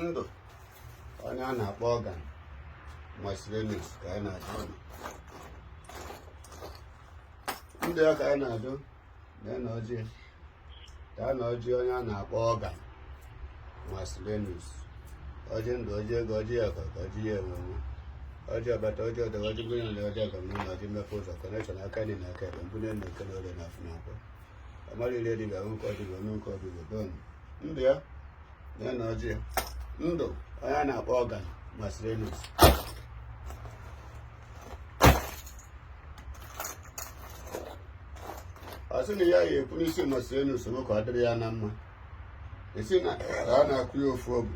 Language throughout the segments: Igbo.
ndụ onye a na-akpọ ọga Marcelinus ka anyị na-ajụ ọnụ ndụ ya ka anyị na-ajụ lee na ọjị taa na ọjị onye a na-akpọ ọga Marcelinus ọjị ndụ ọjị ego ọjị ya ka ọjị ya enwenwe ọjị ọbata ọjị ọdọga ọjị mmiri na ọjị ọga mmiri na ọjị mmepe ụzọ connection aka nri na aka ekpe mbụ na-eme n'eke na orie na afọ na nkwọ amara ire dibịa nwoke ọ dibịa nwanyị nke ọ dibịa donu ndụ ya na ya na ọjị ya ndụ onye a na-akpọ ọga Marcelinus ọ sị na ya ya ekwu n'isi Marcelinus m ka ọ dịrị ya na mma e si na ọ na-akwụ ya ofu obi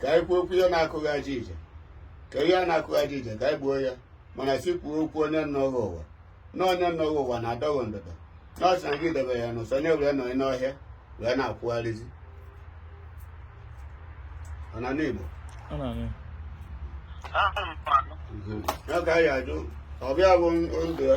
ka anyị kwuo okwu ihe na-akụghị aja ije ka ihe a na-akụghị aja ije ka anyị gbuo ya mana si kwuo okwu onye anọghị ụwa na onye anọghị ụwa na-adọghị ndụdọ na ọ sị na gị debe ya n'ụsọ onye were nọ n'ọhịa wee na-akwụgharịzi ọ na n'Igbo ọ ka anyị ajụ ọbịa bụ ndụ ya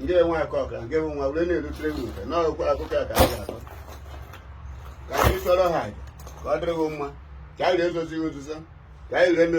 ndị enwe akụ ọka nke bụ nwa were na-erutere gị nke n'ọkwa akụkọ a ka a ga-akọ ka anyị chụọrọ aja ka ọ dịrị gị mma ka anyị ga-ezozi gị nzuzo ka anyị ga-eme